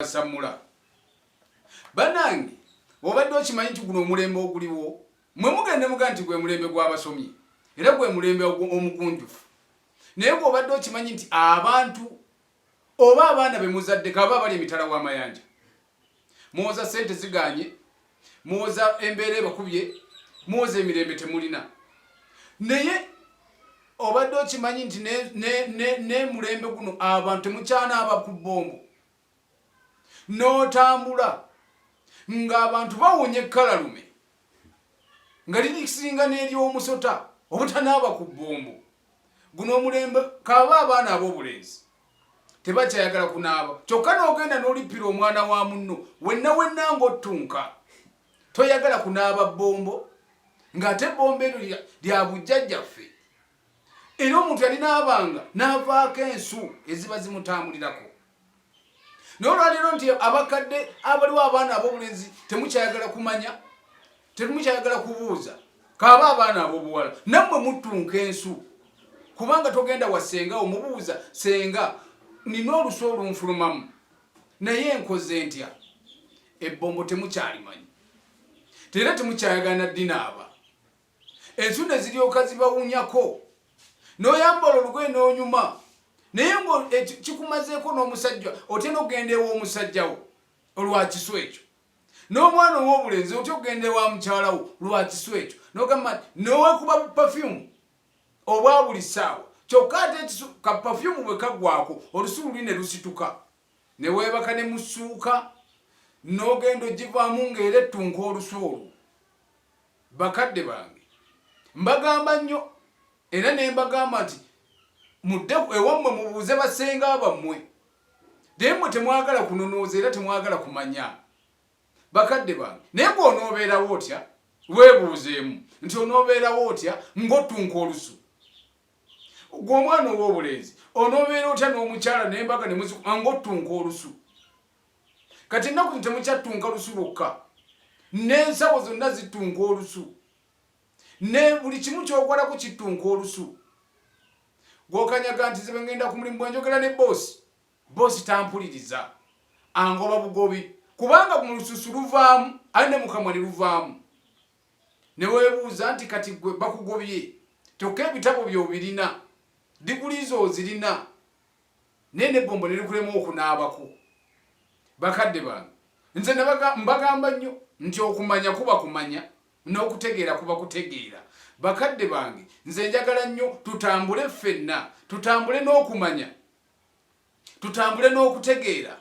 basamula banange obadde okimanyi nti guno omulembe oguliwo mwe mugende muga nti gwe mulembe gw'abasomi era gwe mulembe omugunjufu naye gweobadde okimanyi nti abantu oba abaana bemuzadde kaba abali emitala w'amayanja muwoza sente ziganye muwoza embeera ebakubye muwoza emirembe temulina naye obadde okimanyi nti nemulembe guno abantu temukyanaaba ku bombo n'otambula ng'abantu bawunya ekkalalume nga lirisinga n'ery'omusota obutanaaba ku bbombo guno omulembe kaba abaana ab'obulenzi tebakyayagala kunaaba kyokka n'ogenda n'olippira omwana wa munno wenna wenna ng'ottunka toyagala kunaaba bbombo ng'ate bbombo eryo lya bujjajjaffe era omuntu yalinaabanga n'avaako ensu eziba zimutambulirako naye olwaleero nti abakadde abaliwo abaana ab'obulenzi temukyayagala kumanya temukyayagala kubuuza kaaba abaana ab'obuwala nammwe muttunka ensu kubanga togenda wa senga omubuuza senga nina olusu olunfulumamu naye enkoze ntya ebbombo temukyalimanyi tera temukyayagala naddinaaba ensu ne ziryoka zibawunyako n'oyambala olugoye n'onyuma naye nga e, kikumazeeko n'omusajja otya n'okugenda ew'omusajjawo olwa kisu ekyo n'omwana ow'obulenzi otya okugenda ewa mukyalawo lwa kisu ekyo nogamba nowekuba bupafyumu obwa buli ssaawa kyokka ate ekisu ka pafyumu bwe kaggwako olusu luli ne lusituka ne weebaka ne musuuka n'ogenda ogivaamu ng'era ettunka olusu olwo Bakadde bange mbagamba nnyo era ne mbagamba nti mudde ewammwe mubuuze basenga bammwe naye mmwe temwagala kunonooza era temwagala kumanya bakadde bange naye gwe onoobeerawo otya weebuuzeemu nti onoobeerawo otya ng'ottunka olusu gwe omwana ow'obulenzi onoobeera otya n'omukyala n'embaga ne muziku ng'ottunka olusu kati ennaku zi temukyattunka lusu lwokka n'ensawo zonna zittunka olusu ne buli kimu kyokolako kittunka olusu gwokanyaga nti ze bengenda ku mulimu bwenjogera ne boosi boosi tampuliriza angoba bugobi kubanga mu lususu luvaamu ali ne mukamwa ne luvaamu ne weebuuza nti kati gwe bakugobye kyokka ebitabo byobirina diguli zo ozirina naye nebbombo nerikulema okunaabako bakadde bange nze mbagamba nnyo nti okumanya kuba kumanya n'okutegeera kuba kutegeera bakadde bange nze njagala nnyo tutambule ffenna tutambule n'okumanya tutambule n'okutegeera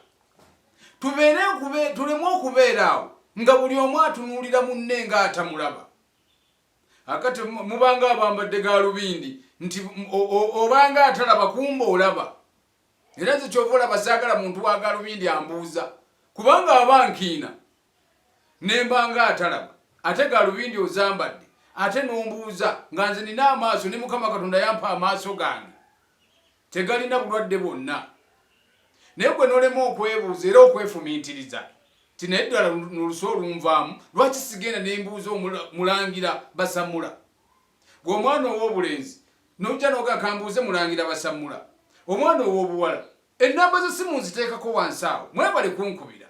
tubeere tuleme okubeera awo nga buli omu atunuulira munne ng'atamulaba akati mubanga abambadde galubindi nti obanga atalaba kumba olaba era nze kyova olaba saagala muntu wa galubindi ambuuza kubanga aba nkiina nembanga atalaba ate galubindi ozambadde ate nombuuza nga nze nina amaaso ne mukama katonda yampa amaaso gange Tegalina bulwadde bwonna. Naye gwe nolema okwebuuza era okwefumiitiriza nti naye ddala nolusa olunvaamu lwaki sigenda nembuuza mulangira basamula gwe omwana ow'obulenzi nojja noga kambuuze mulangira basamula omwana ow'obuwala ennamba z'essimu nziteekako wansi awo mwebale kunkubira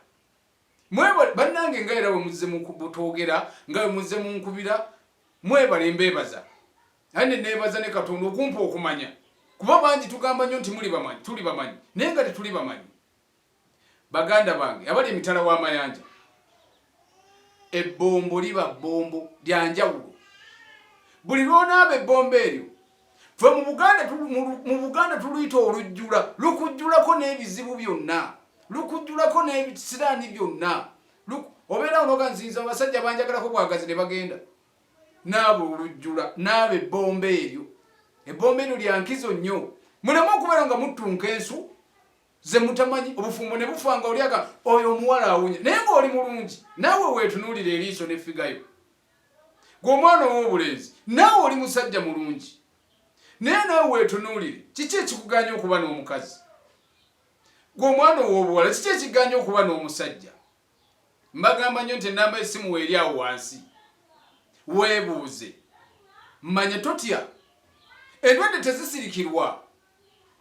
mwebale bannange nga era wemuzze mukutwogera nga wemuzze munkubira mwebale mbebaza aye ne nebaza ne katonda okumpa okumanya kuba bangi tugamba nnyo nti muli bamanyi tuli bamanyi naye nga tetuli bamanyi baganda bange abali emitala w'amayanja ebbombo liba bbombo lyanjawulo buli lwonaaba ebbombo eryo fe mu buganda tuluyita olujjula lukujjulako n'ebizibu byonna lukujjulako n'ebisiraani byonna obeera onoga nzinza abasajja banjagalako bwagazi ne bagenda naabo olujjula naabo ebbomba eryo ebbomba eryo lyankizo nnyo muleme okubeera nga muttunka ensu ze mutamanyi obufumbo ne bufa nga olyaga oyo omuwala awunya naye ngaoli mulungi naawe weetunuulira eriiso nefigayo gwe omwana ow'obulenzi naawe oli musajja mulungi naye naawe weetunuulire kiki ekikuganya okuba n'omukazi gwe omwana ow'obuwala kiki ekiganya okuba n'omusajja mbagamba nnyo nti ennamba esimu weeri awo wansi weebuuze manya totya endwadde tezisirikirwa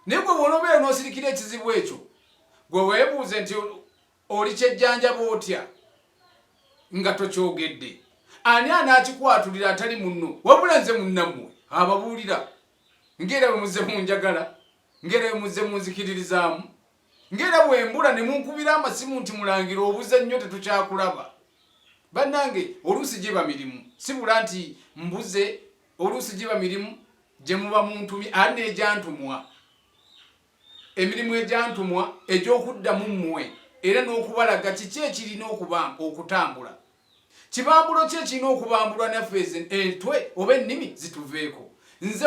naye gwe bw'onoobeera n'osirikira ekizibu ekyo gwe weebuuze nti Olikyejjanjaba otya nga tokyogedde? Ani anaakikwatulira atali munno? Wabula nze munnammwe ababuulira ng'era bwe muzze munjagala, ng'era bwe muzze munzikiririzaamu, ng'era bwe mbula ne munkubira amasimu nti mulangira obuze nnyo tetukyakulaba. Bannange oluusi giba mirimu, si bula nti mbuze, oluusi giba mirimu gye muba muntumye ani n'egyantumwa. emirimu egyantumwa egy'okuddamu mmwe era n'okubalaga kiki ekirina okutambula kibambulo ki ekirina okubambulwa naffe entwe oba ennimi zituveeko nze